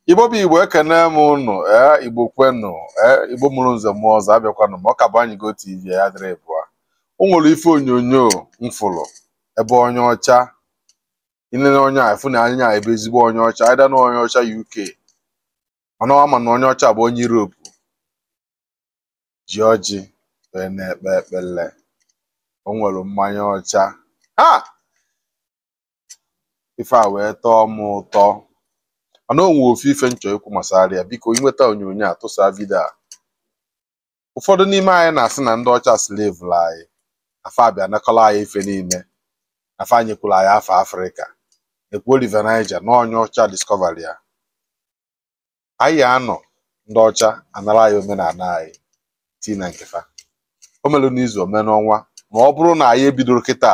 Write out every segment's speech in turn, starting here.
igbo bụ igbo ekene m ụnụ ee igbo kwenụ ee igbo mụrụ nze mụọ ọzọ abịakwanụ m ọ ka bụ anyị go tv ya dịrị bụa o nwere ife onyonyo m fụrụ ebe onye ọcha i nene onye afụ na anya ọ bụ ezigbo onye ọcha either na onye ọcha uk mana ọ ma na onye ọcha a bụ onye europe ji ọjị wee na-ekpe ekpele o nwere mmanya ọcha ha ife a wee tọọ m ụtọ mana o nwee ofu ife m chọ ikwu gbasara ya biko i nweta onyonyo a tụsa vidio a ụfọdụ n'ime anyị na-asị na ndị ọcha slevụrụ anyị fa abịa nakọla anyị ife niile fa nyekwuru anyị afa afrịka ekwuo River Niger na onye ọcha discover ya anyị anọ ndị ọcha anara anyị omenala anyị tii na nke fa o mere n'izu o mee n'ọnwa ma ọ bụrụ na anyị ebidoro kịta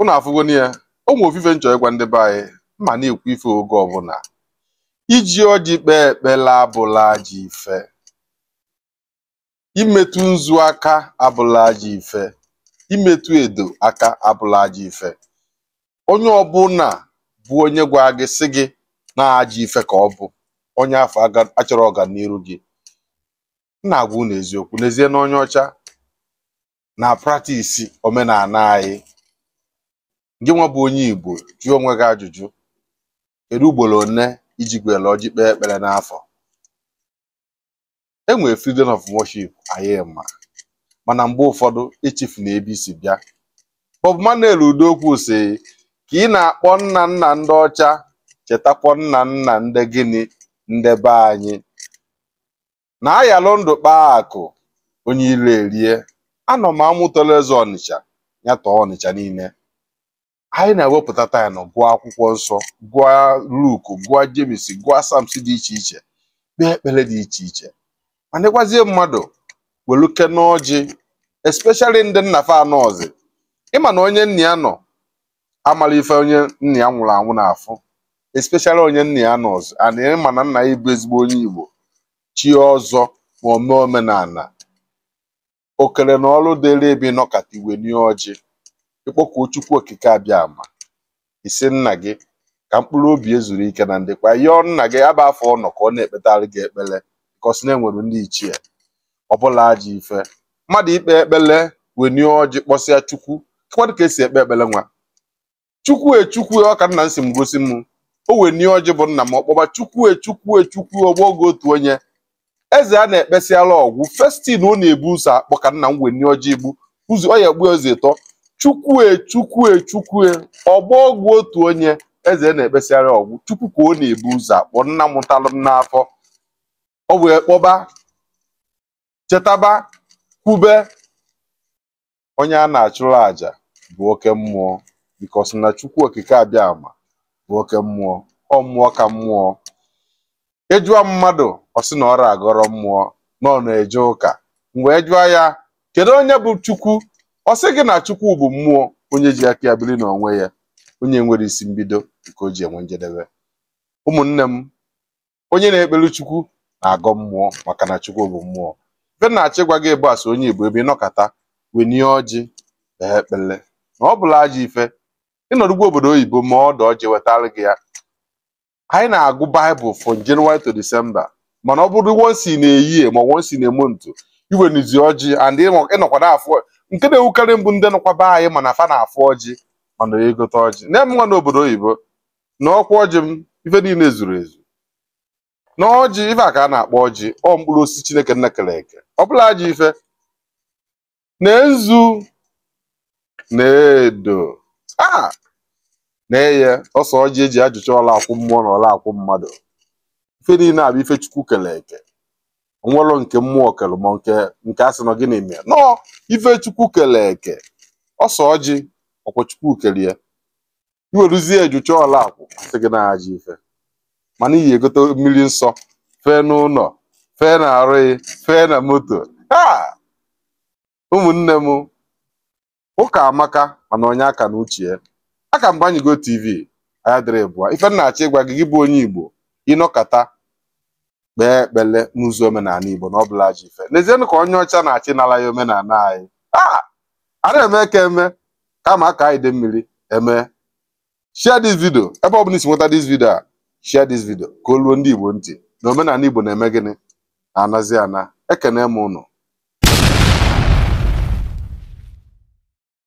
ụnụ afụgo na ya o nwe ofu ife m chọ ịgwa ndị be anyị m na-ekwu ife oge ọbụla iji ọjị kpee ekpele abụrọ ajọ ife imetụ nzu aka abụrọ ajọ ife imetụ edo aka abụrọ ajọ ife onye ọbụla bụ onye gwa gị sị gị na ajọ ife ka ọ bụ onye afụ achọrọ ọganiru gị m na-agwa unu eziokwu n'ezie na onye ọcha na-practice omenala anyị gị nwa bụ onye Igbo jụọ onwe gị ajụjụ kedu ugboro one i jigo were ọjị kpee ekpere n'afọ e nwere freedom of worship anyị ma mana mgbe ụfọdụ echefuna ebe i si bịa Bob Manuel Udokwu sị ka ị na-akpọ nna nna ndị ọcha chetakwa nna nna ndị gịnị ndị be anyị na a yalụ ndụ kpaa akụ onye ilo erie anọ m amụ tọlụ eze ọnịcha ya tọọ ọnịcha niile anyị na-ewepụta time gụọ akwụkwọ nsọ gụọ Luke gụọ James gụọ Psalms dị iche iche kpee ekpere dị iche iche ma dịkwazie mmadụ welụkene ọjị especially ndị nna fa anọzi ị ma na onye nna ya nọ amarọ ife onye nna ya nwụrụ anwụ na-afụ especially onye nna ya anọzi and ị ma na nna ya bụ ezigbo onye Igbo chie ọzọ ma ome omenala okere na ọrụ dịrị ebe ị nọkata i were ọjị ị kpọkuo Chukwu okike abịama ị sị nna gị ka mkpụrụ obi ya zuru ike na ndokwa yọọ nna gị ebe afụ ọ nọ ka ọ na-ekpetara gị ekpere because na e nwere ndị ichie ọ bụrọ ajọ ife mmadụ ikpe ekpele wenie ọjị kpọsịa chukwu kwadụ ka esi ekpe ekpele nwa chukwu e chukwu e ọ ka nna m si m gosi m o wenie ọjị bụ nna m ọ kpọba chukwu e chukwu e chukwu ọgbọ ọgwụ otu onye eze a na-ekpesịara ọgwụ first thing ọ na-ebu ụzọ akpọ ka nna m wenie ọjị ibu ụzọ ọ ya-ebu eze ịtọ chukwu e chukwu e chukwu ọgbọ ọgwụ otu onye eze na-ekpesịara ọgwụ chukwu ka ọ na-ebu ụzọ akpọ nna mụtalụ m n'afọ ọ wee kpọba chetaba kwube onye a na-achụrụ aja bụ oke mmụọ because na chukwu okike abịa ama bụ oke mmụọ ọ mmụọ ka mmụọ ị jụa mmadụ ọ sị na ọ agọrọ mmụọ na ọ na-eje ụka ngwa jụọ ya kedu onye bụ chukwu ọ sị gị na chukwu bụ mmụọ onye ji aka ya biri n'onwe ya onye nwerọ isi mbido nke o ji enwe njedebe ụmụnne m onye na-ekpere chukwu na-agọ mmụọ maka na chukwu bụ mmụọ ife m na-achọ ịgwa gị ebe a so onye igbo ebe ị nọkata wenie ọjị kpee ekpere na ọ bụrọ ajọ ife ị nọdụkwa obodo oyibo ma ọ dị ọjị wetara gị ya anyị na-agụ baịbụl from January to December mana ọ bụrụ once in a year ma once in a month i wenizie ọjị and ị nọ- ị nọkwa na-afụ nke na-ewukarị m bụ ndị nọkwa be anyị mana fa na-afụ ọjị mana egote ọjị na-eme nwa n'obodo oyibo na ọkwa ọjị m ife niile zuru ezu na ọjị ife a ka a na-akpọ ọjị ọ mkpụrụ osisi chineke nna kere eke ọ bụrọ ajọ ife na nzu na edo a na-eye ose ọjị e ji ajụcha ọla akwụ mmụọ na ọla akwụ mmadụ ife niile a bụ ife chukwu kere eke o nwelọ nke mmụọ kere ma nke nke a sị na gịnị mee na ọ ife chukwu kere eke ose ọjị ọkwa chukwu kere ya i weruzie ya jụcha ọla akwụ a sị gị na ọ ajọ ife mana ị ya-egote mmiri nsọ fee n'ụlọ fee na arụ gị fee na moto ha ụmụnne m ụka amaka mana onye aka na uche ya aka m gbanye go tv anya dịrị ịbụa ife m na-achọ ịgwa gị gị bụ onye igbo ị nọkata kpee ekpere n'ụzọ omenala Igbo na ọ bụrọ ajọ ife nezienụ ka onye ọcha na-achọ ịnara anyị omenala anyị a a na-eme ka eme kama aka anyị dị mmiri eme share this video ebe ọ bụla i si nweta this video a share this video ka o ruo ndị Igbo ntị na omenala Igbo na-eme gịnị na-anazi ana ekene m ụnụ